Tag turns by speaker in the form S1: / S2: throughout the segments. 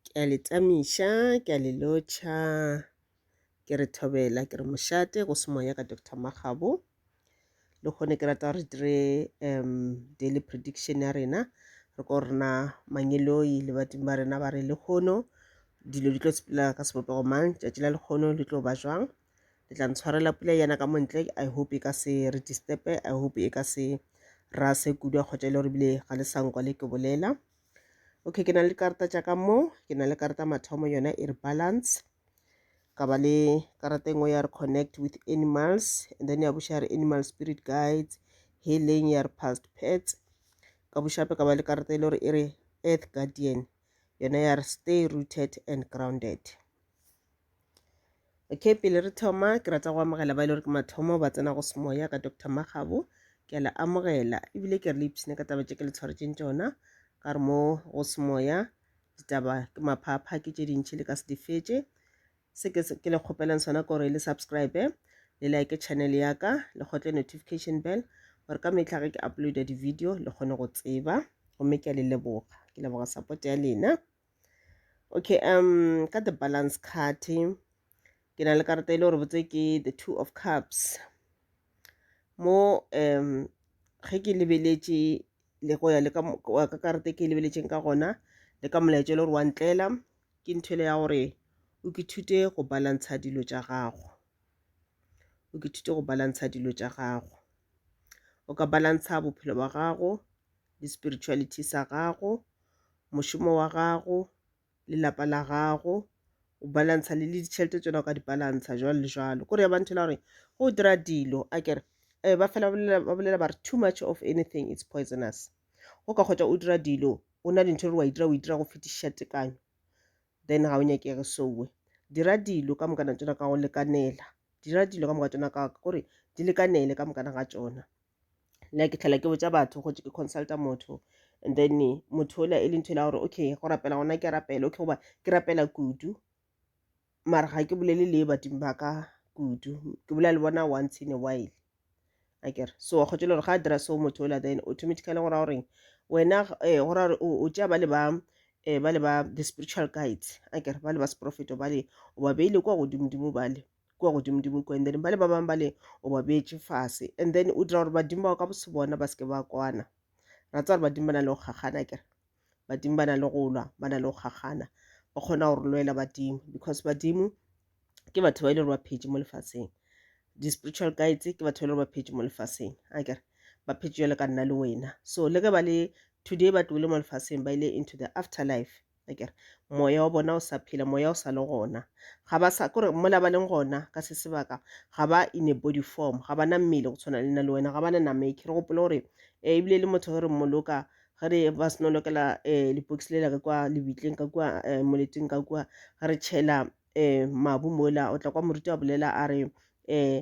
S1: ke a le tsamiša ke a le lotšha ke re thobela ke re mošate go se moya ka dr makgabo le kgone ke rata re dire um daily prediction ya rena re ko rena mangeloi le badimo ba rena ba re lekgono dilo di tlo sepela ka sebopego mang tšatši la lekgono le tlo ba jwang le tla ntshwarela pula yana ka montle i hope e ka se re disturbe i hope e ka se ra se kudu kgotsa e le gore bile ga le sa nkwa le ke bolela okay ke na le karata tša ka mo ke na le karata mathomo yona e re balance ka ba le karata engwe ya re connect with animals and then ya boša re animal spirit guides healing ya re past pets ka bošape ka ba le karata e le gore e re earth guardian yona ya re stay rooted and grounded okay pele re thoma ke rata go amogela ba e le gore ke mathomo ba tsena go semoya ka dr magabo ke a le amogela ebile ke re le ipshine ka taba tše ke le tshwaretseng tšona ka re mo go semoya ditaba ke maphapha ke tše dintšhi le ka se di fetše se ke le kgopelang sona ke gore le subscribe le like channel ya ka le kgotle notification bell gore ka metlha ge ke uploada di-video le kgone go tseba gomme ke a le leboga ke leboga support ya lena okay um ka the balance card ke na le karata e le gore botse ke the two of cups mo um ge ke lebeletše le go ya le ka karata e ke lebeletšeng ka gona le ka molaetša e le gore wa ntlela ke ntho ele ya gore o ke thute go balantsha dilo tša gago o ke thute go balantsha dilo tša gago o ka balantsha bophelo ba gago le spirituality sa gago, mošomo wa gago, lelapa la gago, o balantsha le le ditšhelete tsona o ka di balantsha jwalo le jwalo. Kore ya ba ntho e la gore go dira dilo a kere eh, ba fela ba bolela- ba bolela ba re too much of anything it's poisonous. Go ka kgotsa o dira dilo o na le ntho e re wa e dira o e dira go fetiša tekanyo then ga o nyakege sowe. Dira dilo ka mokana tsona ka go lekanela, dira dilo ka moka tsona ka gore di lekanele ka mokana ga tsona. nna ke tlhela ke botsa batho go ke consulta motho and then motho ola e le ntho la gore okay go rapela gona ke rapele okay goba ke rapela kudu mara ga ke bolele le badimo ba ka kudu ke bolela le bona once in a while akere so wa kgotse le gore ga a dira so motho ola then automatically go ra goreng wena eh, go ra gore o tšea ba le ba eh, ba le ba the spiritual guides akere ba le ba seprofeto ba le o ba beile kwa godimodimo ba le kua godimodimo ko and then ba le ba bangwe ba le o ba beetše fase and then o dira gore badimo bao ka bose bona ba seke ba kwana ra tsa gore badimo ba na le go kgakgana kere badimo ba na le go lwa ba na le go kgakgana ba kgona go re lwela badimo because badimo ke batho ba e le gore ba phetše mo lefaseng di-spiritual guides ke batho ba e le gore ba phetše mo lefaseng a kere ba phetše jale ka nna le wena so le ge ba le today ba tlogile mo lefaseng ba ile into the afterlife akere moya wa bona o sa phela moya o sa le gona ga ba sa kore mola ba leng gona ka se sebaka ga ba in a body form ga ba na mmele go tshwana le nna le wena ga ba na nama ekere gopole gore um ebile le motho ge re mmoloka ge re ba seno lokela um eh, lepokisi le laka kwa lebitleng ka kua eh, moleteng ka kua re tšhela um mabu mola o tla kwa moruti a bolela a re um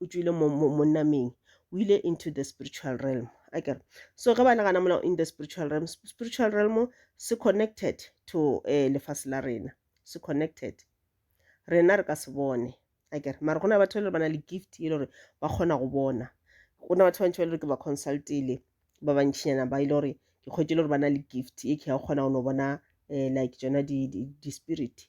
S1: o tšwile mo, mo, mo nameng o ile into the spiritual realm akere so ge ba nagana mola in the spiritual realm spiritual realm se connected to um eh, lefase la rena se connected rena re ka se bone akere mara go na batho ba le ba na le gift e le gore ba kgona go bona go na batho ba bantši ba le gore ke ba consultile ba bantšhinyana ba e le gore ke kgwetse e le gore ba na le gift e ke ya go kgona go no bona um like tsona di-spirit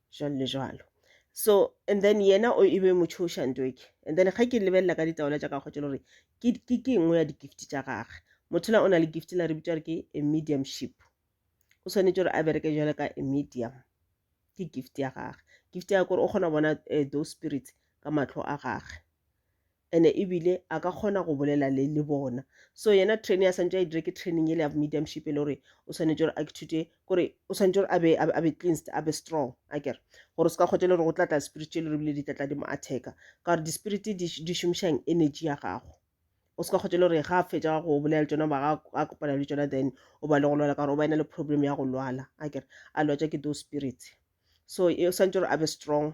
S1: jwalo le jwalo so and then yena o e be motšhoša ntoke and then ge ke lebelela ka ditaola tša gagwe tšelo gore ke ke nngwe ya di-gift tša gagwe motho na o na le gift la re bitsa gore ke a mediumship o tshwanetse gore a bereke jalo ka a medium ke gift ya gagwe gift ya gore o kgona go bona eh, those spirits ka matlho a gagwe ene ebile a ka kgona go bolela le le bona so yena training a santse a e dire ke training ele ya mediumship e le gore o swanetse gore a ithute kore o swanetse gore abe a be cleansed a be strong a kere gore o se ka kgotse le gore go tlatla spirit e le rebile di tlatla di mo attacka ka gore di-spirit di šomišang energy ya gago o se ka kgotse le gore ga a fetsa go bolela le tsona ba a kopana le tsona then o ba le go lwala ka gore o ba ena le problem ya go lwala a kere a lwatsa ke those spirits so e swanetse gore a be strong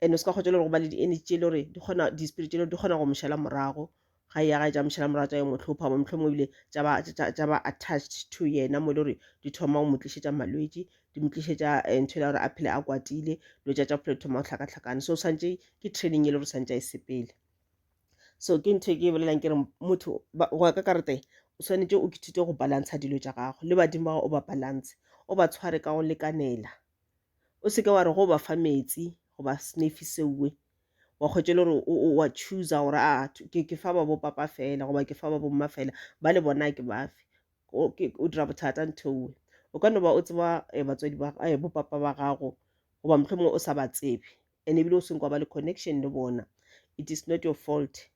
S1: and o se ka kgotsa le go ba le di-energy tše le gore di kgona di-spirit tše le di kgona go mošela morago ga ya ga tša mošela morago tša yo motlhopha mo mohlomong ebile tša ba attached to yena mo e le gore di thoma go mo tlišetša malwetši di mo tlišetša eh, ntho e le gore a phele a kwatile dilo tša tša bophelo di thoma go hlakahlakana so swantše ke training e le gore swantše a e sepele so ke ntho e ke e bolelang ke re motho go ya ka karete o swanetše o kithute go balantsha dilo tša gago le badimo ba gago o ba balance o ba tshware ka go lekanela o seke wa re go ba fa metsi goba snefi sewe wa kgwetše le gore wa choosa gore a ah, ke fa ba bo papa fela goba ke fa ba bo mma fela ba le bona ke bafe o dira bothata ntho ewe o ka no ba o tseba eh, batswadi ba eh, bo papa ba gago goba mohlomongwe o sa ba tsebe and ebile o seng kwa ba le connection le bona it is not your fault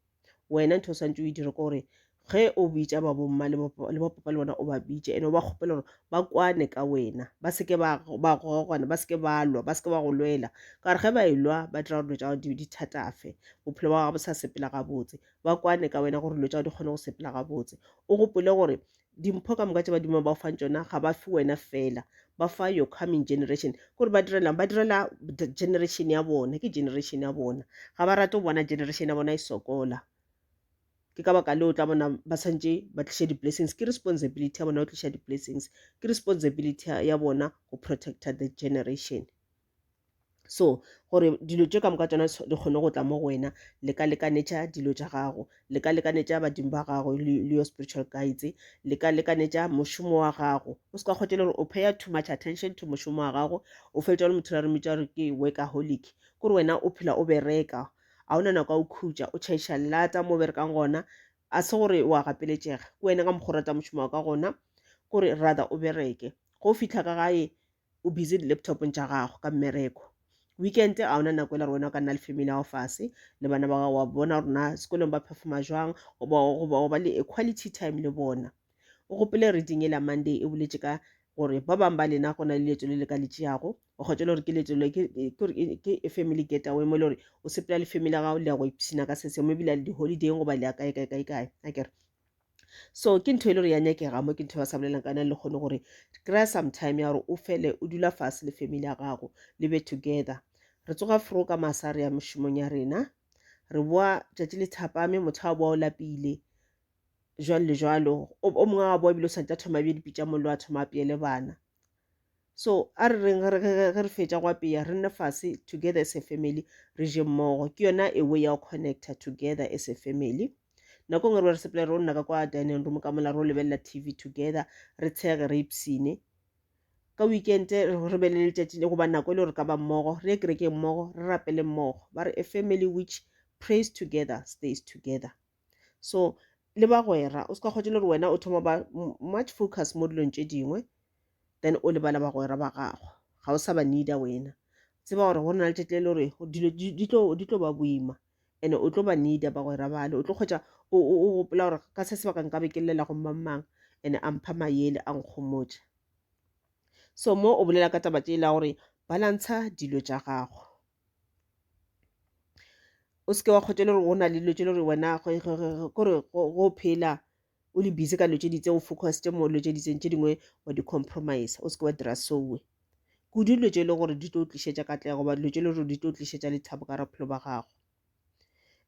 S1: wena ntho o swantse o e dire ko gore ge o bitša babomma le bapapa le bona o ba bitše and o ba kgopela gore ba kwane ka wena ba seke ba gogwana ba seke ba lwa ba seke ba go lwela ka gore ge ba e lwa ba dira gore dilo tša gago di thatafe bophelo ba gago bo sa sepela gabotse ba kwane ka wena gore dilo tša gago di kgone go sepela gabotse o gopole gore Dimpho ka moka tše badimo ba o fang tšona ga ba fe wena fela ba fa your coming generation ke gore ba direlang ba direla generation ya bona ke generation ya bona ga ba rate go bona generation ya bona e sokola ke ka baka leo tla bona ba tshwanetse ba tliša di-blessings ke responsibility ya bona go tliša di-blessings ke responsibility ya bona go protecta the generation so gore dilo tše ka moka tšona di kgone go tla mo go wena le ka lekanetša dilo tša gago le ka lekanetša badimo ba gago le your spiritual guides le ka lekanetša mošomo wa gago o se ka kgotše le gore o paya too much attention to mošomo wa gago o fetša le motho la re mmitša gore ke workaholic kore wena o phela o bereka a o na nako ya o khutša o chaiša lata mo berekang gona a se gore wa gapeletšega ke wena ka mokgwa o rata mošomo wa ka gona kore rather o bereke go fitlha ka gae O busy di laptopong tša gago ka mmereko. Weekend ga ona nako e le gore wena o ka nna le family ya go fase le bana ba gago wa bona gore na sekolong ba performa jwang goba ba le a quality time le bona. O gopole reading e la Monday e boletše ka gore ba bang ba lena go na le leeto le le ka le tšeago o kgotse le gore ke leeto le ke e family get away mo e le gore o sepela le family ya gago le ya go ipshina ka sese mo ebile le di-holidayng goba le ya kae kae kae kae a kere so ke ntho e le gore ya nyakega mo ke ntho ba sa bolelang ka yona le kgone gore kry-a sometime ya gore o fele o dula fase le family ya gago le be together re tsoga fro ka masa re ya mošomong ya rena re boa tšatši le thapame motho a boa o lapile jwalo le jwalo o mongwe a boa ebile o santse a thoma bje dipitša mollo a thoma a peele bana so a re reng ge re fetša go apeya re nne fase together as a family re je mmogo ke yona a way ya go connecta together as a family nako ngwe re be re sepela ro nna ka kwa dining room ka mola ro lebelela tv together re tshege re ipsine ka weekend re be le letšatši le goba nako e le gore ka ba mmogo re ye kerekeng mmogo re rapele mmogo ba re a family which praise together stays together so le bagwera o se ka kgotse le gore wena o thoma ba much focus mo dilong tše dingwe then o lebala bagwera ba gago ga o sa ba needa wena tseba gore go na le tšatši le gore dilo di tlo ba boima and o tlo ba needa bagwera bale o tlo kgwetsa o gopola gore ka se sebaka nka be ke llela go mang mang and a mpha mayele a nkgomotša so mo o bolela ka taba tše e la gore balantsha dilo tša gago o seke wa kgotša le gore o na le dilo tše le gore wena kore go phela o le busy ka dilo tše di itseng o focused mo dilo tše di itseng tše dingwe wa di compromiser o seke wa dira seo kudu dilo tše e leng gore di tlo tlišetša katlego goba dilo tše e leng gore di tlo tlišetša lethabo ka gare ga bophelo ba gago.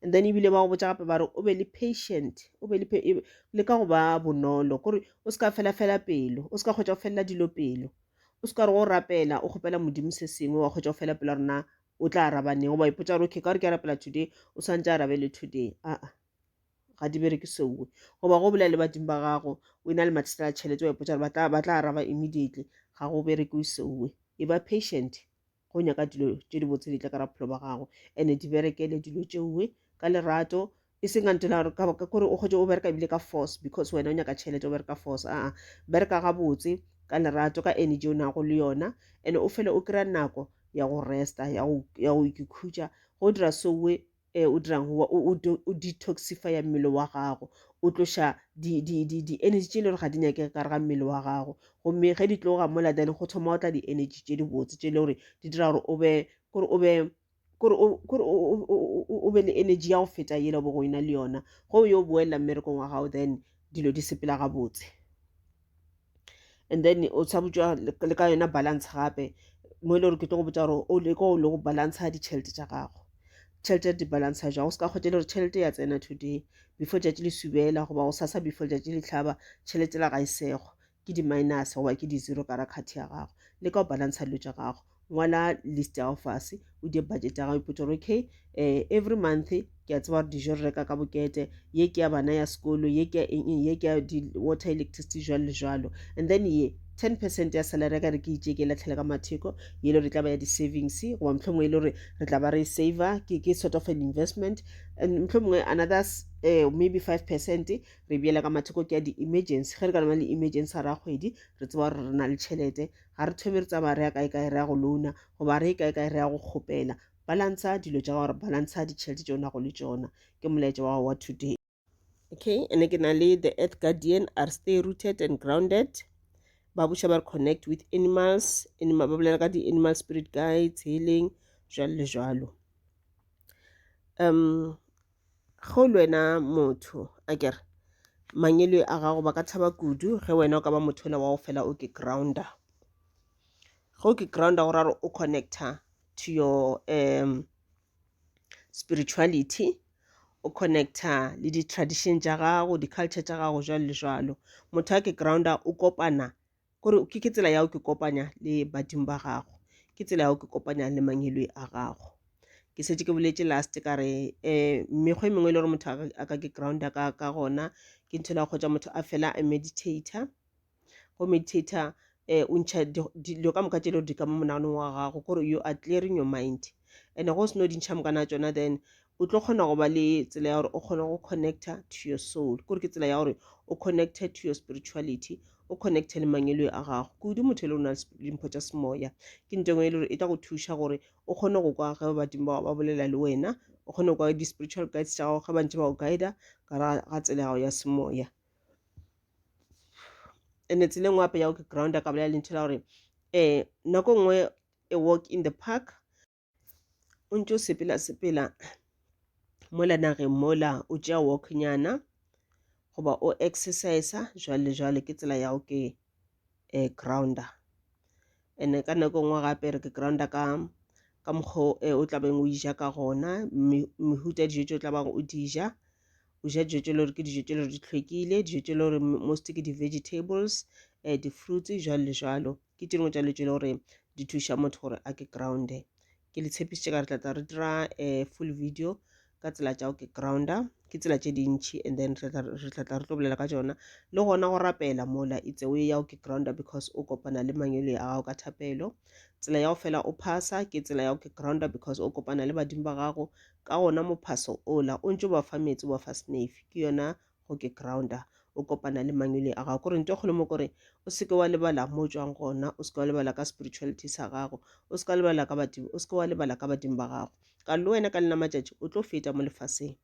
S1: and then ebile ba go botsa gape ba re o be le patient o be le e, le ka go ba bonolo kore o se ka fela fela pelo o se ka kgotsa go felela dilo pelo o se ka re go rapela o kgopela modimo se sengwe wa kgotsa go fela pelo rona o tla arabaneng goba ipotsa gore okay ka gore ke rapela today o santse arabe le today aa ga di bereke seowe goba go bolela le badimo ba gago o e na le mathata a tšhelete wa ipotsa gore ba tla araba immediately ga go berekiwe seowe e ba patient go nyaka dilo tše di botse di tla ka raphelo ba gago ene di berekele dilo tšeoe ka lerato e seng a ntela gore ka kore o kgotse o bereka ebile ka force because wena o nyaka tšhelete o bereka force aa bereka gabotse ka lerato ka energy o nago le yona ene o fele o kry-a nako ya go resta ya go ikhutša go dira soe E, o dirang go wa, o, o, do- o detoxifya mmele wa gago, o tloša di, di, di, di energy tše e le gore ga di nyakege ka gare ga mmele wa gago, gomme ge di tloga mola then go thoma go tla di energy tše di botse tše e le gore di dira gore o be, kore o be kore o, kore o, o, o, o- o be le energy ya go feta yela o bego o ena le yona, ge o yo boelela mmerekong wa gago then dilo di sepela gabotse. and then o tsha botsa le ka yona balance gape mo e le gore ke tlo go botsa gore o leko o le go balance ditšhelete tša gago tšhelete di balance ja o se ka kgwetele gore tšhelete ya tsena today before tšatši le subela goba go sasa before tšatši le tlhaba tšhelete la ga e sego ke di-minus goba ke di-zero ka ra card ya gago le ka go balance dilo tša gago ngwala list ya go fase o die budget ya gago ipotsa gore okay um every month ke a tseba gore dijo re reka ka bokete ye ke ya bana ya sekolo ye ke ya eng eng ye ke ya water electricity jalo le jalo and then ye ten percent ya salary ka re ke itše ke latlhele ka matheko ye le re tla ba ya di-savings goba motlho mongwe e le gore re tla ba re save ke ke sort of an investment and motlho mongwe another uh, maybe five percent re beela ka matheko ke ya di-emergency ge re ka na le emergency ra kgwedi re tseba gore re na le tšhelete ga re thome re tsamaya re ya kae kae re ya go louna goba re kae kae re ya go kgopela balantsha dilo tša gore balantsha ditšhelete tše o nago le tšona ke molaetša wa wa today okay and ke na le the earth guardian are stay rooted and grounded ba buša ba re connect with animals animal ba bolela ka di-animal spirit guides healing jalo le jalo um ge o le wena motho a kere mangwele a gago ba ka tšhaba kudu ge wena o ka ba motho ola wa go fela o ke grounder ge o ke grounder go raro o connecta to your um spirituality o connecta le di-tradition tša gago di-culture tša gago jwalo le jwalo motho a ke grounder o kopana gore ke ke tsela ya go ke kopanya le badimo ba gago ke tsela ya go ke kopanya le mangilwe a gago ke setse ke boletse last ka re um mekgwa e mengwe e le gore motho a ka ke grounda ka ka gona ke ntho la kgotsa motho a fela a meditator go meditator um o ntšha dilo ka moka tse le gore di ka mo monaganong wa gago kore you are clearing your mind and go seno dintšha mokana tsona then o tlo kgona go ba le tsela ya gore o kgone go connecta to your soul ke gore ke tsela ya gore o connecte to your spirituality o connecte le mangelo a gago kudu motho e le o na le mpho tša semoya ke nto engwe e le gore e tla go thuša gore o kgone go kwa ge badimo bao ba bolela le wena o kgone go kwa di-spiritual guides tša gago ge bantse ba go guida ka ga tsela gago ya semoya ene tsela e nngwe gape ya go ke ground a ka bolela lentho la gore um nako nngwe a walk in the park o ntse o sepela sepela mola nageng mola o tšea walknyana goba o exercise jwale jwale ke tsela ya go ke um grounder and ka nako e nngwe gape re ke grounder ka ka mokgwa o eh, tlabeng o ija ka gona mehuta dijo tse o tlabang o di ja o ja dijo tse le gore ke dijo tse le gore di tlhwekile dijo tse le gore most ke di-vegetables um di-fruits jwalo le jwalo ke tše dingwe tša dilo tše e le gore di thuša motho gore a ke grounde ke le tshepisitše ka re tlatla re dira um full video ka tsela tša go ke grounder ke tsela tše dintšhi and then re tlatla re tlo bolela ka tsona le gona go rapela mola itse o ya go ke grounder because o kopana le mangwele a gago ka thapelo tsela ya go fela o phasa ke tsela ya go ke grounder because o kopana le badimo ba gago ka gona mophaso ola o ntse o ba fa metsi o ba fa snafe ke yona go ke grounda o kopana le mangwele a gago kore nto kgolo mo kore o seke wa lebala mo tswang gona o seke wa lebala ka spirituality sa gago o seke wa lebala ka badimo o seke wa lebala ka badimo ba gago ka le wena ka lena matšatši o tlo feta mo lefaseng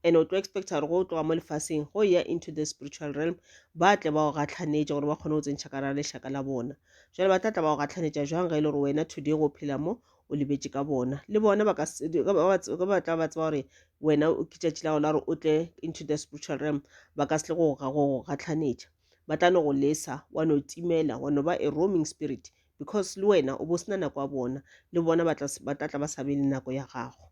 S1: and o tlo expecta gore go tloga mo lefaseng go ya into the spiritual realm ba tle ba go gatlhanetša gore ba kgone go tsentšha ka ra lešaka la bona jale ba tla tla ba go gatlhanetša jwang ge e le gore wena today go phela mo o lebetše ka bona le bona ba tla ba tseba gore wena ke tšatši la gona gore o tle into the spiritual realm ba ka se go gatlhanetša ba tla no go lesa wa no timela wa no ba a roaming spirit because le wena o bo sena nako ya bona le bona ba tla tla ba sa be le nako ya gago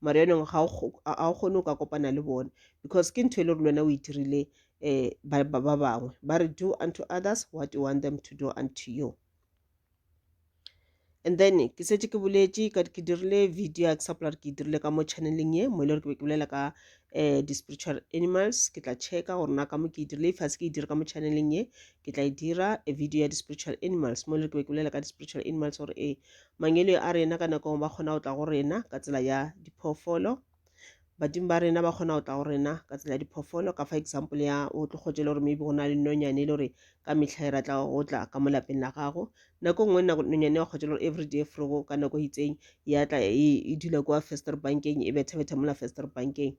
S1: mara yanong ga o kgone o ka kopana le bone because ke ntho e le gore lwena o itirile um eh, ba bangwe ba re do unto others what you want them to do unto you and then ke setse ke boletše ka ke dirile video ya ke sa polara ke e dirile ka mo channeleng ye mo e le gore ke be ke bolela ka um di-spiritual animals ke tla checka gore na ka mo ke e dirile ifase ke e dire ka mo channeleng ye ke tla e dira a video ya di-spiritual animals mo e le gore ke be ke bolela ka di-spiritual animals gore ee Mangwele a rena ka nako nngwe ba kgona go tla go rena ka tsela ya diphoofolo badimo ba rena ba kgona go tla go rena ka tsela ya diphoofolo ka fa example ya o tlo kgotse le gore maybe go na le nonyane e le gore ka metlha e ratla go tla ka mo lapeng la gago nako nngwe nonyane wa kgotse le gore every day frogo ka nako e itseng ya tla e, e dula kwa fester bankeng e bethabetha mola fester bankeng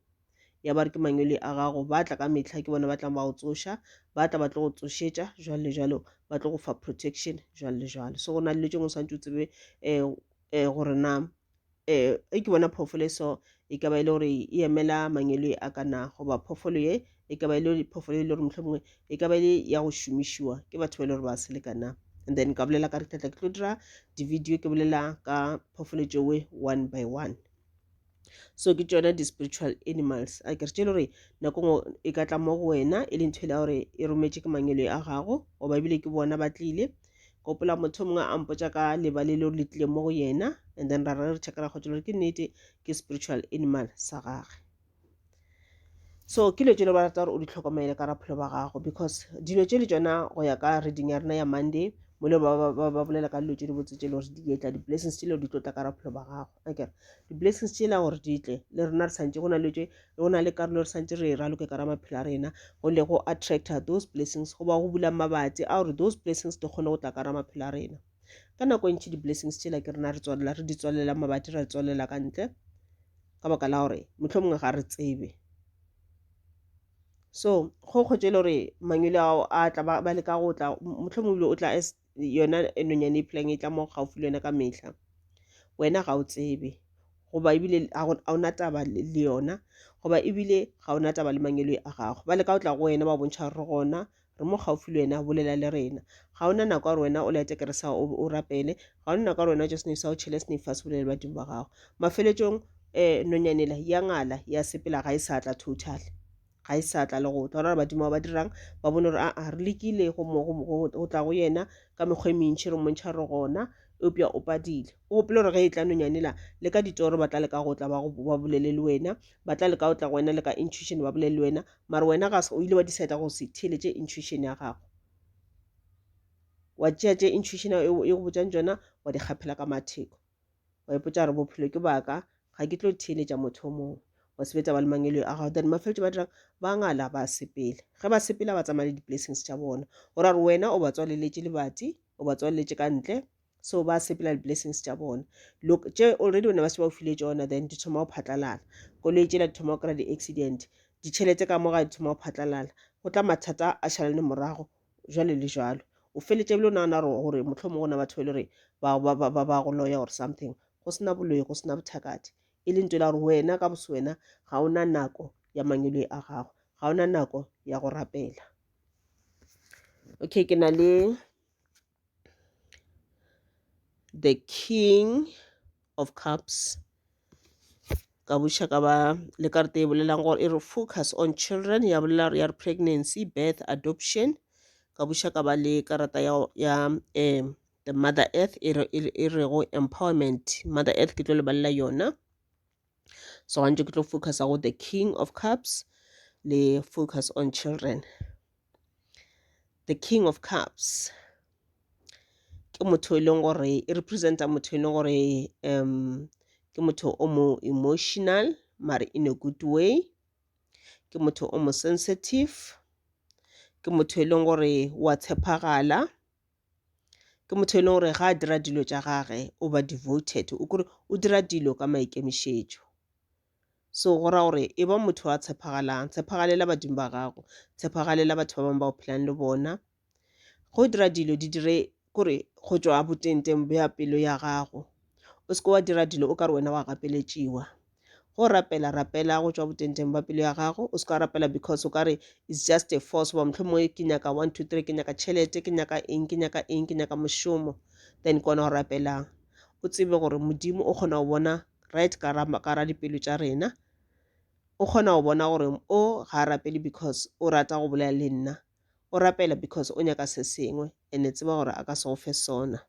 S1: ya ba re ke mangwele a gago ba tla ka mehla ke bona ba tlang ba go tsoša ba tla ba tlo go tsošetša jwalo le jwalo ba tlo go fa protection jwalo le jwalo so go na le dilo tse ngwe swantse o tsebe um um gore na um e ke bona phoofolo e so e ka ba e le gore e emela mangwele a ka na goba phoofolo ye e ka ba e le phoofolo e le gore mohlho mongwe e ka ba e le ya go šomišiwa ke batho ba e le gore ba selekana and then ka bolela ka re tlatla ke tlo dira di-video ke bolela ka phoofolo tšewe one by one so ke tšona di-spiritual animals a kere tše le gore nako ngwe e ka tla mo go wena e le ntho e le gore e rometše ke mangwele a gago goba ebile ke bona ba tlile gopola motho mongwe a mpotša ka leba le leo le tlile mo go yena and then ra re checkela kgotsa gore ke nnete ke spiritual animal sa gage so ke dilo tse le ba rata gore o di tlhokomele ka raphelo ba gago because dilo tse le tsona go ya ka reading ya rena ya monday mo le ba bolela ka dilo tse di botse tse le gore di etla di-blessings tse le di tlotla ka raphelo ba gago akere di-blessings tsela gore di tle le rena re santse go na le tše go na le karolo re santse re e raloke ka ra maphelo a rena go le go attracta those blessings goba go bula mabatsi a gore those blessings di kgone go tla ka ra maphelo a rena ka nako e ntšhi di-blessings tsela ke rena re tswalela re di tswalela mabatsi ra tswalela ka ntle ka baka la gore motlho mongwe ga re tsebe so go kgotse e le gore mangwele ao a tla ba leka go tla motlho mongwe o tla as yona e nonyane e phelang e tla mo gaufi le yona ka mehla wena ga o tsebe goba ebile ga o na taba le yona goba ebile ga o na taba le mangelo a gago ba le ka o tla go wena ba bontšha re gona re mo gaufi le wena bolela le rena ga ona nako ya gore wena o lete kere sa o rapele ga ona nako ya gore wena just sa o tšhele sne fa se bolele badimo ba gago mafeletšong um nonyanela ya ngala ya sepela ga e sa tla total ga e sa tla le go tla gore badimo ba ba dirang ba bone gore aa re lekile go tla go yena ka mekgwa e mentšhi re montšha re gona eupša o padile o gopele gore ge e tla nonyane la le ka ditoro ba tla leka go tla ba bolele le wena ba tla leka go tla go wena le ka intuition ba bolele le wena mare wena ga o ile wa decide go se theletše intuition ya gago wa tšea tše intuition e go botšang tsona wa di kgaphela ka matheko wa ipotsa gore bophelo ke baka ga ke tlo theeletša motho o mongwe wa sebetsa ba le mangelo a gago then mafeletso ba dirang ba ngala ba sepele ge ba sepela ba tsamaya le di-blessings tša bona o ra gore wena o ba tswaleletše lebati o ba tswaleletše ka ntle so ba sepela di-blessings tša bona look tše already o ne ba se ba o file tsona then di thoma go phatlalala koloi tšela di thoma go kry-a di-accident ditšhelete ka moga di thoma go phatlalala go tla mathata a šalane morago jwalo le jwalo o feletše bile o nagana gore motlho mongwe na batho ba e le gore ba go loya or something go sena boloyi go sena bothakati e le nto la gore wena ka bose wena ga o na nako ya mangweloi a gago ga o na nako ya go rapela okay ke na le the king of cups ka buša ka ba le karata e bolelang gore e re focus on children ya bolela gore ya re pregnancy birth adoption ka buša ka ba le karata ya, ya um the mother earth e rego empowerment mother earth ke tlo lebalela yona so gantši ke tlo focusa go the king of cups le focus on children the king of cups ke motho e leng gore e representa motho e leng gore um ke motho o mo emotional mare in a good way ke motho o mo sensitive ke motho e leng gore wa tshepagala ke motho e leng gore ga a dira dilo tša gage o ba devoted o kore o dira dilo ka maikemišetšo so go ra gore e ba motho wa tshepagalang tshepagalela badimo ba gago tshepagalela batho ba bangwe ba o phelang le bona go dira dilo di dire kore go tšwa botengteng bja pelo ya gago o seke wa dira dilo o ka re wena wa gapeletšiwa go rapela rapela go tšwa botenteng ba pelo ya gago o se ka rapela because o ka re it's just a force goba mohlomongwe ke nyaka one two three ke nyaka tšhelete ke nyaka eng ke nyaka eng ke nyaka mošomo then kona go rapelang o tsebe gore modimo o kgona go bona right ka ra dipelo tša rena o kgona go bona gore o ga a rapele because o rata go bolela le nna o rapela because o nyaka se sengwe and-e tseba gore a ka se go fe sona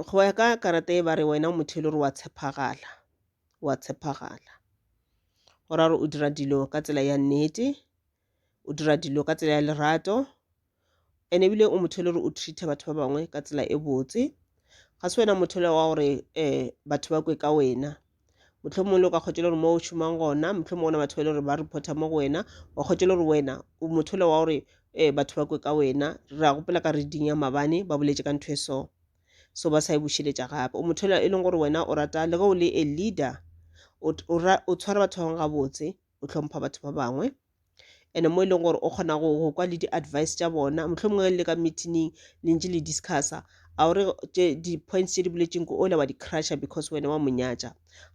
S1: go ya ka karata e ba re wena o motho e le gore wa tshepagala, wa tshepagala. Go ra gore o dira dilo ka tsela ya nnete, o dira dilo ka tsela ya lerato and-e ebile o motho e le gore o treat-a batho ba bangwe ka tsela e botse. Ga se wena motho wa gore batho ba kwe ka wena. mohlomongwe o ka kgotšela gore mo o šomang gona mohlomongwe gona batho ba e le gore ba reporta mo go wena wa kgotšela gore wena o motho le wa gore um batho ba kwe ka wena re a gopela ka reading ya mabane ba boletše ka ntho e so so ba sa e bušeletša gape o motho e leng gore wena o rata le ge o le a leader o tshwara batho ba bangwe gabotse o hlompha batho ba bangwe ene mo e leng gore o kgona go go kwa le di-advice tša bona mohlomongwe le ka meetingng le ntse le discussa a o re di-points tše di boletseng ko ole wa di-crusher because wena wa monyatša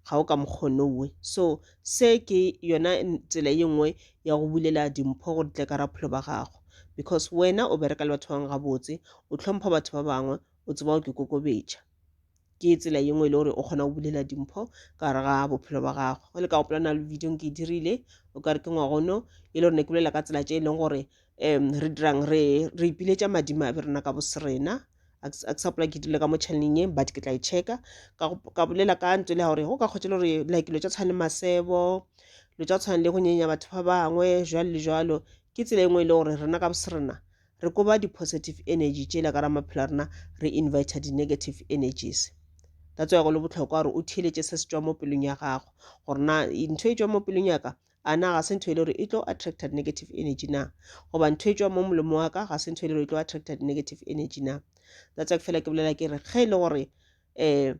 S1: ga o ka mokgonowe so se ke yona tsela ye nngwe ya go bulela dimpho gore tle ka rapholo ba gago because wena o bereka le batho ba bangwe gabotse o tlhompha batho ba bangwe o tseba o ke kokobetša ke tsela ye nngwe e le gore o kgona go bulela dimpho ka gare ga bophelo ba gago o le ka gopola na le video ke e dirile o ka re ke ngwagono e le gore ne ke bolela ka tsela tše e leng gore um re dirang re re ipiletša madimabe rena ka bosrena a ke sa pola ke dirile ka mo channeleng ye but ke tla e checka ka bolela ka ntse le gore go ka kgotse le gore like lo tša tshwana le masebo lo tša tshwana le go nyenya batho ba bangwe jwalo le jwalo ke tsela e nngwe e le gore rena ka bosrena re koba di positive energy tšela ka ra maphelo a rena re invita di negative energies that's why go le botlhokwa gore o theeletše se se tšwa mo pelong ya gago gore na ntho e tšwa mo pelong ya ka a na ga se ntho e le gore e tlo attracta negative energy na goba ntho e tšwa mo molemo wa ka ga se ntho e le gore e tlo attracta negative energy na that's why fela ke bolela ke re ge e le gore um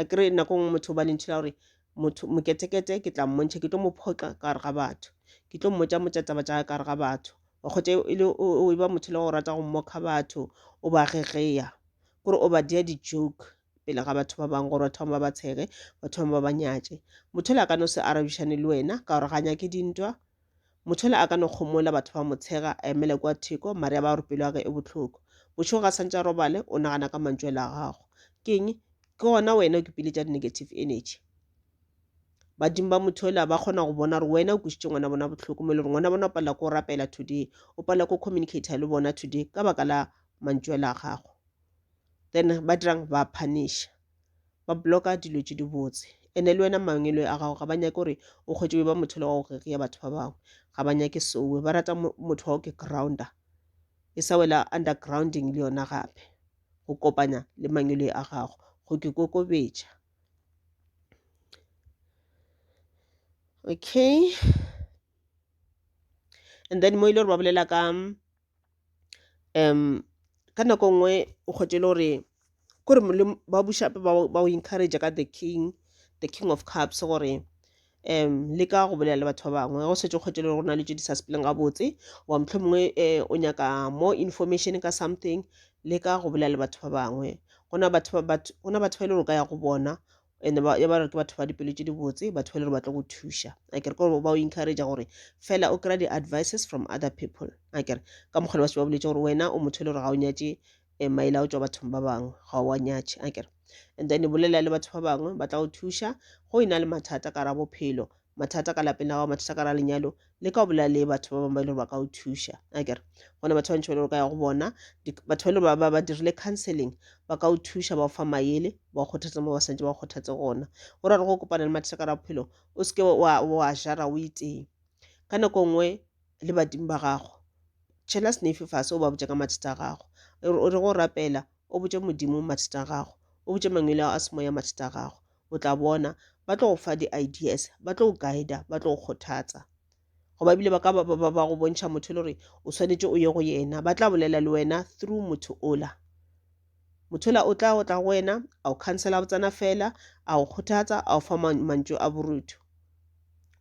S1: a kere nako nngwe motho ba lentšhi la gore motho moketekete ke tla mmontšha ke tlo mo phoxa ka gare ga batho ke tlo mmotša motša taba tša ka gare ga batho wa kgotsa e le o e ba motho le go rata go mmokga batho o ba gegeya kore o ba dia di-joke pele ga batho ba bangwe gore batho bangwe ba ba tshege batho bangwe ba ba nyatše motho le a ka no se arabišane le wena ka gore ga nyake dintwa Mothole a ka no kgomola batho ba mo tshega a emele kwa theko mare ya ba gore pelo ya ge e bohloko. Bošego ga santša robale o nagana ka mantšwele a gago. Keng? Ke gona wena o kipiletša di negative energy. Badimo ba Mothola ba kgona go bona gore wena o kwešitše ngwana bona bohloko mo e le gore ngwana bona o palela ko rapela today, o palela ko communicator le bona today ka baka la mantšwele a gago. Then ba dirang ba phanisha. ba bloka dilo tše dibotse ene le wena mangwelwe a gago ga ba nyake gore o kgwetše be ba motho le wa go reria batho ba bangwe ga ba nyake sowe ba rata motho wa go ke grounder e sa wela undergrounding le yona gape go kopanya le mangwelwe a gago go ke kokobetša okay and then mo e le gore ba bolela ka ka nako nngwe o kgwetše le gore kore ba buša gape ba go encourager ka the king, the king of cups gore le ka go bolela le batho ba bangwe ge o šetše o kgwetše le gore go na le tše di sa sepeleng gabotse goba mohlomongwe o nyaka more information ka something le ka go bolela le batho ba bangwe go na batho ba e le gore o ka ya go bona. ene ba ba ke batho ba dipelo tše dibotse batho ba le gore ba tlo go thuša a kere gore ba o encourage gore fela o kry-a di-advices from other people a kere ka mokgwa ba se ba boletse gore wena o motho e le gore ga o nyatše um eh, maele a o tswa bathong ba bangwe ga o wa nyatše a kere and then bolela le batho ba bangwe ba tla go thuša go e na le mathata ka ra bophelo mathata ka lapeng la gago mathata ka ra lenyalo le ka o bolela le batho ba bangwe ba e le gore ba ka o thuša a kere gona batho ba bantši ba le gore ka ya go bona batho ba e le gore ba dirile counseling ba ka o thuša ba o fa mayele ba o kgothatsa mo ba santse ba o kgothatse gona gore re go kopana le mathata ka ra bophelo o seke wa jara o iteng ka nako nngwe le badimo ba gago tšhela senefe fase o ba botša ka mathata a gago o re go rapela o botše modimo mathata a gago o botše mangwele ao a semoya mathata a gago o tla bona ba tlo go fa di-ideas ba tlo go guida ba tlo go kgothatsa goba ebile ba ka ba go bontšha motho e le gore o swanetše o ye go yena ba tla bolela le wena through motho ola motho ola o tla o tla go wena a o khansela botsana fela a go kgothatsa a o fa mantšu a borutho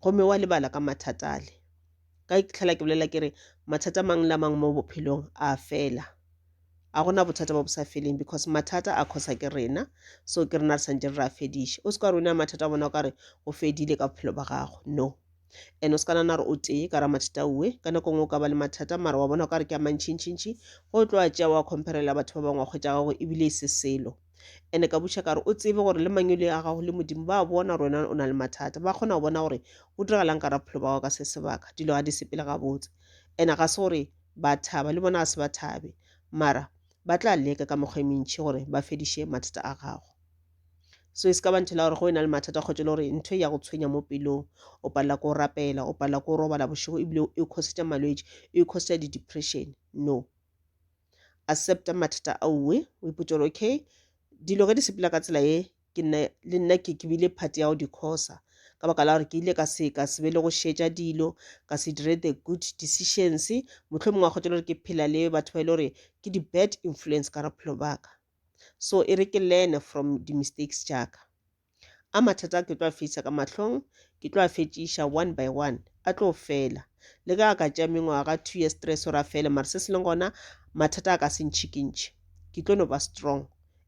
S1: gomme wa lebala ka mathata ale ka tlhela ke bolela ke re mathata mang la mang mo bophelong a fela a go na bothata ba bo sa feleng because mathata a khosa ke rena so ke rena re santse re re a fediše o se ka re o ne a mathata a bona o ka re o fedile ka bophelo ba gago no and o se ka nana gore o tee ka ra mathata uwe ka nako ngwe o ka ba le mathata mara wa bona o ka re ke a mantšhintšhintšhi go tlo a tšea wa comparela batho ba bangwe wa kgwetša gago ebile e se selo ene ka buša ka re o tsebe gore le mangwele a gago le modimo ba bona gore wena o na le mathata ba kgona go bona gore o diregalang ka raphelo ba gago ka se sebaka dilo ga di sepele gabotse ene ga se gore ba thaba le bona a se ba thabe mara ba tla leka ka mokgwa e mentšhi gore ba fediše mathata a gago so e se ka ba nthela gore go e na le mathata kgotse le gore ntho e ya go tshwenya mo pelong o palela ko rapela o palela ko robala bošego ebile e coseta malwetši e coseta di-depression no accepta mathata a uwe o ipotse gore okay dilo ge di sepela ka tsela ye ke nna le nna ke ke bile part ya go di khosa ka baka la gore ke ile ka se ka se be le go šetša dilo ka se dire the good decisions motlho mongwe a kgotsa gore ke phela le batho ba e le gore ke di bad influence ka bophelo baka so e re ke learn from di mistakes jaaka a mathata ke tlo a fetsa ka mahlong ke tlo a fetšiša one by one a tlo fela le ka ka tša mengwaga two years stress ora fele mara se se leng gona mathata a ka se ntšhikintšhe ke tlo no ba strong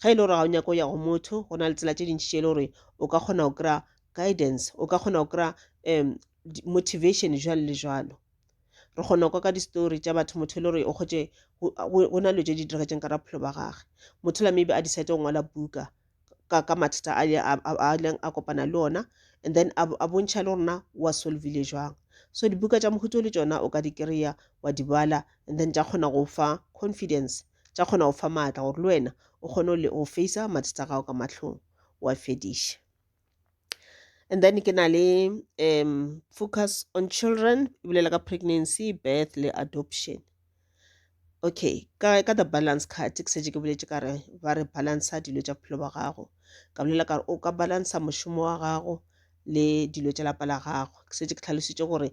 S1: ge e le gore ga o nyaka o ya go motho go na le tsela tše dintši tše e le gore o ka kgona go kry-a guidance o ka kgona go kry-a um motivation jalo le jalo re kgona kwa ka di-story tša batho motho e le gore o kgotše go na le tše di diregetseng ka raphelo ba gage motho la maybe a decide go ngwala buka ka ka mathata a leng a kopana le ona and then a bontšha le gorena wa solvile jwang so dibuka tša mohuto le tšona o ka di kry-a wa di bala and then tša kgona go fa confidence tša kgona go fa maatla gore le wena o kgone le o facea mathata a gago ka mahlong wa fediša and then ke na le um focus on children e bolela ka pregnancy birth le adoption okay ka, ka the balance card ke setse ke boletse ka re ba re balansa dilo tša bophelo ba gago ka bolela ka re o ka balansa mošomo wa gago le dilo tša lapa la gago ke setse ke tlhalositše gore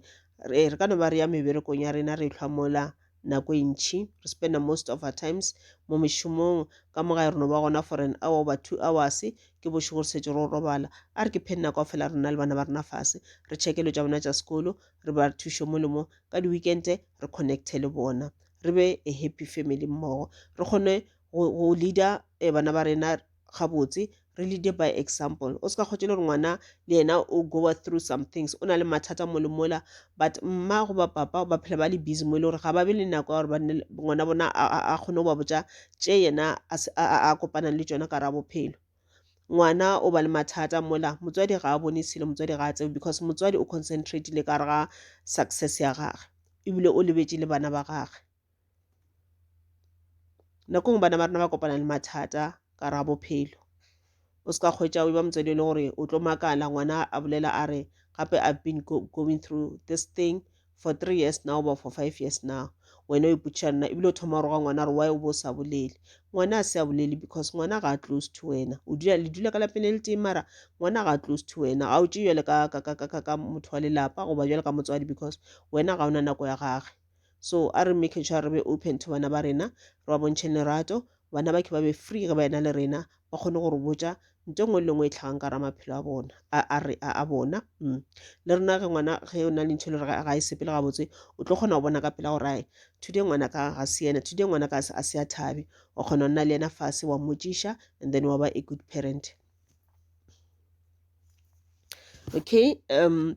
S1: re ka no ba re ya meberekong ya rena re hlwa mola nako e ntšhi re spenda most of our times mo mešomong ka mo gae re no ba gona for an hour oba two hours ke bošego re setse ro robala a re ke phedi nako a fela rona le bana ba rena fase re chekelo tša bona tša sekolo re ba re thušo mo le mo ka di-weekend re connecte le bona re be a happy family mmogo re kgone go leader eh, bana ba rena gabotse re lead by example o se ka kgotse le gore ngwana le yena o goa through some things o na le mathata mo le mola but mma goba papa ba phela ba le busy mo e le gore ga ba be le nako ya gore ngwana bona a kgone go ba botsa tše yena a kopanang le tsona ka ra bophelo ngwana o ba le mathata mola motswadi ga a bone selo motswadi ga a tsebe because motswadi o concentratile ka re ga success ya gage ebile o lebetse le bana ba gage nako ngwe bana ba rena ba kopana le mathata ka ra bophelo o se ka kgwetša o ba motswadi e le gore o tlo makala ngwana a bolela a re gape i've been go going through this thing for three years now or for five years now wena o ipotšiša nna ebile o thoma go roga ngwana gore why o bo sa bolele ngwana a se a bolele because ngwana ga a close to wena o dula le dula ka lapeng le le teng mara ngwana ga a close to wena ga o tše jale ka motho wa lelapa goba jale ka motswadi because wena ga o na nako ya gage so a re making sure re be open to bana ba rena re ba bontšheng lerato bana ba ke ba be free ge ba ena le rena ba kgone go re botša nto nngwe le nngwe e tlhagang ka ra maphelo a bona a bona mm. le rena ge ngwana ge o na le ntho e le gore ga e sepele gabotse o tlo kgona go bona ka pela gore ae today ngwana ka ga se yena today ngwana ka a se a thabe o kgona go nna le yena fase wa mmotšiša and then wa ba a good parent okay um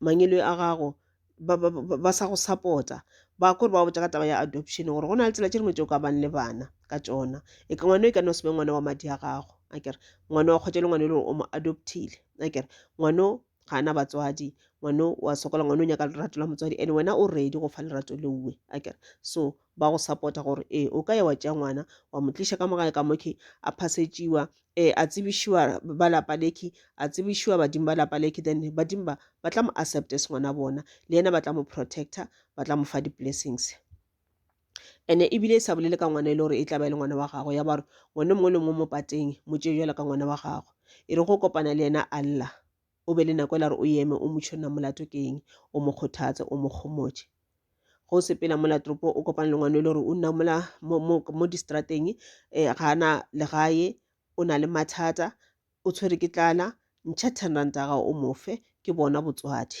S1: mangelo a gago ba, ba, ba, ba sa go support-a ba kore ba botsa ka taba ya adoption gore go na le tsela tše dingwe tse o ka bang le bana ka tsona e ka ngwana e ka no se be ngwana wa madi a gago a kere ngwana wa kgotsa le ngwana e le gore o mo adoptile a kere ngwano ga ana batswadi ngwano wa sokola ngwano o nyaka lerato la motswadi and wena o ready go fa lerato leuwe a kere so ba go sapota gore ee o ka ya wa tšea ngwana wa mo tliša ka mogae ka mokhi a phasetšiwa um a tsebišiwa ba lapa lekhi a tsebišiwa badimo ba lapa lekhi then badimo ba ba tla mo accept se ngwana bona le yena ba tla mo protector ba tla mo fa di-blessings ene ebile e sa bolele ka ngwana e le gore e tla ba e le ngwana wa gago ya ba gore ngwana mongwe le mongwe mo pateng mo tšee jalo ka ngwana wa gago e re go kopana le yena allah O be le nako e la re o eme o motšho nna molato ke eng, o mo kgothatse, o mo kgomotše. Go sepela mola tropo o kopana le ngwana e le gore o nna mola mo, mo, mo distrateng eh, ga ana legae o na le mathata o tshwere ke tlala ntšha ten ranta gago o mofe ke bona botswadi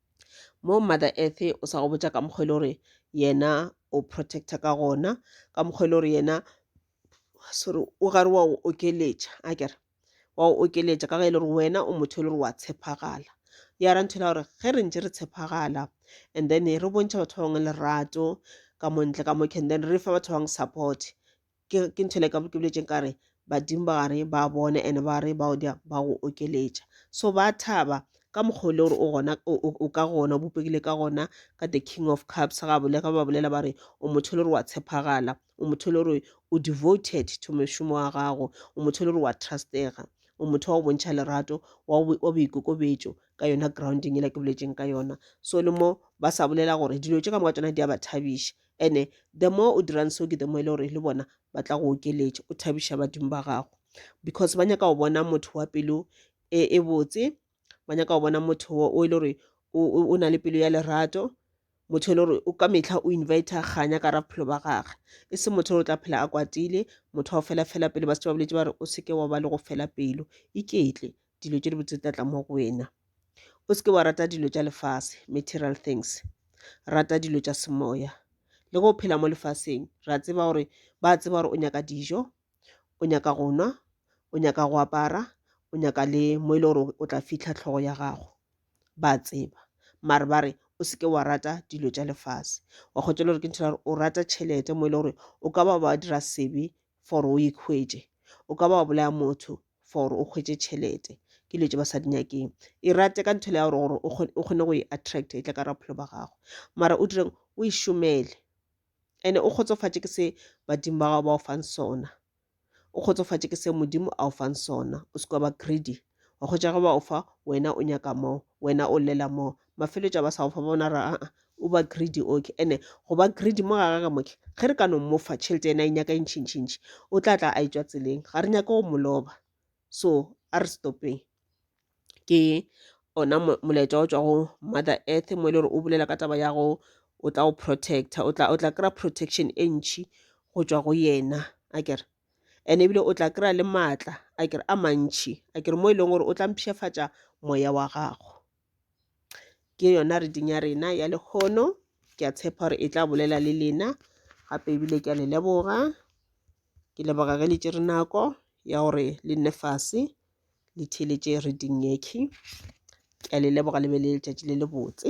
S1: mo mother earth o sa go botša ka mokgwa e le gore yena o protecta ka gona ka mokgwa e le gore yena sorry o gare wa go okeletša a kere wa go okeletša ka ge e le gore wena o motho e le gore wa tshepagala ya ra nthela gore ge re ntse re tshepagala and then re bontšha batho ba bangwe lerato ka montle ka mokhe and then re fa batho ba bangwe support ke ke ntho le ka ke boletse ka re badimo ba gare ba bone and ba re ba odia ba go okeletša so ba thaba ka mokgwa o le gore o gona o ka gona o bopegile ka gona ka the king of cups ga bole ga ba bolela ba re o motho le gore wa tshepagala o motho le gore o devoted to mošomo wa gago o motho le gore wa trustega o motho wa go bontšha lerato wa boikokobetso ka yona grounding e le ke boletseng ka yona so le mo ba sa bolela gore dilo tse ka moka tsona di a ba thabiša and-e the more o dirang seo ke the more e le gore le bona ba tla go okeletša o thabiša badimo ba gago because ba nyaka go bona motho wa pelo e, e botse ba nyaka go bona motho wo o e le gore o, o, o na le pelo ya lerato motho e le gore o ka mehla o invite kganya ka ra bophelo ba gage e se motho o tla phela a kwatile motho wa go fela fela pelo ba se ba boletse ba re o seke wa ba le go fela pelo iketle dilo tše dibotse tla tla mo go wena o seke wa rata dilo tša lefase material things rata dilo tša semoya le go phela mo lefaseng re a tseba gore ba tseba gore o nyaka dijo o nyaka go nwa o nyaka go apara o nyaka le mo e le gore o tla fitlha tlhogo ya gago ba tseba mare ba re o seke wa rata dilo tša lefase wa kgotsa le gore ke ntho gore o rata tšhelete mo e le gore o ka ba ba dira sebe for o ikhwetše o ka ba wa bolaya motho for o kgwetše tšhelete ke dilo tše ba sa di nyakeng e rate ka nthele ya gore gore o kgone go e attract e tla ka raphelo ba gago mara o direng o e šomele ande o kgotsofatše ke se badimo ba gago ba o fang sona o kgotsofatše ke se modimo a o fang sona o se kwa ba greedy wa kgwetša ge ba o fa wena o nyaka mo wena o llela mo mafelo tša ba sa go fa bona ra a o ba greedy okay ene go ba greedy mo ga gage moke ge re ka no mofa tšhelete ena e nyaka e ntšhintšhintšhi o tla tla a etswa tseleng ga re nyake go moloba so a re stopeng ke ona molaetša o tswa go mother earth mo e le gore o bolela ka taba ya go o tla o protecta o tla o tla kry-a protection e ntšhi go tswa go yena a kere and ebile o tla kry-a le maatla a kere a mantšhi a kere mo e leng gore o tla mpshefatša moya wa gago ke yona reading ya rena ya lekgono ke a tshepa gore e tla bolela le lena gape ebile ke a le leboga ke leboga ge le tše re nako ya gore le nne fase le theeletše reading yekhe ke a le leboga le be le letšatši le le botse